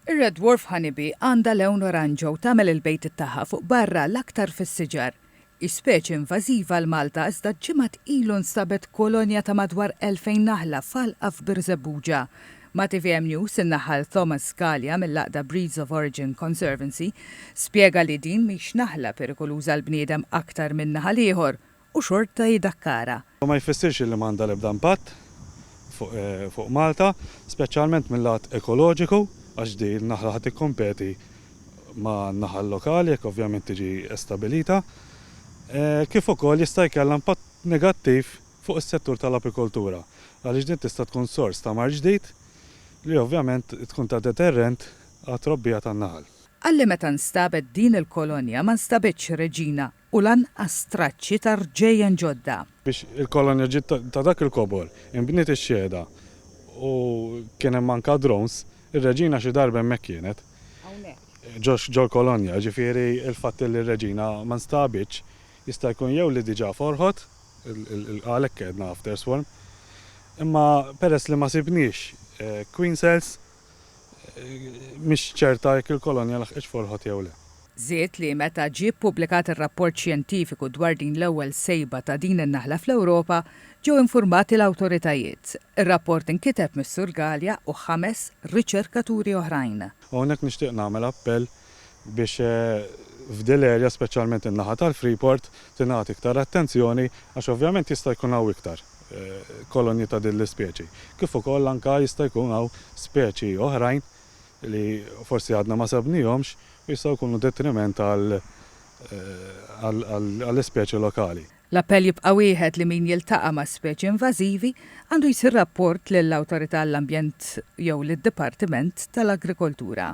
Ir-Red Dwarf Honeybee għandha lewn oranġo u tagħmel il-bejtiet tagħha fuq barra l-aktar fis-siġar. Hi speċi invażiva għal Malta iżda ġimgħat ilu nstabet kolonja ta' madwar 2,000 naħla f'għalqa f'Birżebbuġa. Ma' tvm News, in-naħal Thomas Scalia mill-għaqda Breeds of Origin Conservancy spjega li din mhix naħla perikoluża għall-bniedem aktar minn naħal ieħor u xorta jdakkarha. Dan ma jfissirx li m'għandha l-ebda impatt fuq Malta, speċjalment mil-lat ekoloġiku għax din in-naħla ħa tikkompeti ma' naħal lokali jekk ovvjament tiġi stabilita, kif ukoll jista' jkellha impatt negattiv fuq is-settur tal-apikoltura għaliex din tista' tkun sors ta' mard ġdid li ovvjament tkun ta' deterrent għat-trobbija tan-naħal. Qal li meta nstabet din il-kolonja ma nstabitx reġina u lanqas traċċi ta' rġejjen ġodda. Biex il-kolonja ġiet ta' dak il-kobor, inbniet ix-xhieda u kien hemm anke drones, ir-reġina xi darba hemmhekk kienet. Hawnhekk. Ġol-kolonja, jiġifieri l-fatt li r-reġina ma nstabitx jista' jkun jew li diġà forħot, għalhekk għedna after swarm, imma peress li ma sibniex queen cells, mhix ċerta jekk il-kolonja laħqitx Folħod jew le. Żied li meta ġie ppubblikat ir-rapport xjentifiku dwar din l-ewwel sejba ta' din in-naħla fl-Ewropa, ġew infurmati l-awtoritajiet. Ir-rapport inkiteb mis-Sur Galea u ħames riċerkaturi oħrajn. Hawnhekk nixtieq nagħmel appell biex f'dil area, speċjalment in-naħa tal-Freeport, tingħata iktar attenzjoni għax ovvjament jista' jkun hawn iktar kolonji ta' din l-ispeċi. Kif ukoll anke jista' jkun hawn speċi oħrajn li forsi għadna ma sebnihomx u jistgħu jkunu detriment għall-ispeċi lokali. L-appell jibqa' wieħed li min jiltaqa' ma' speċi invażivi għandu jsir rapport lill-Awtorità għall-Ambjent jew lid-Dipartiment tal-Agrikoltura.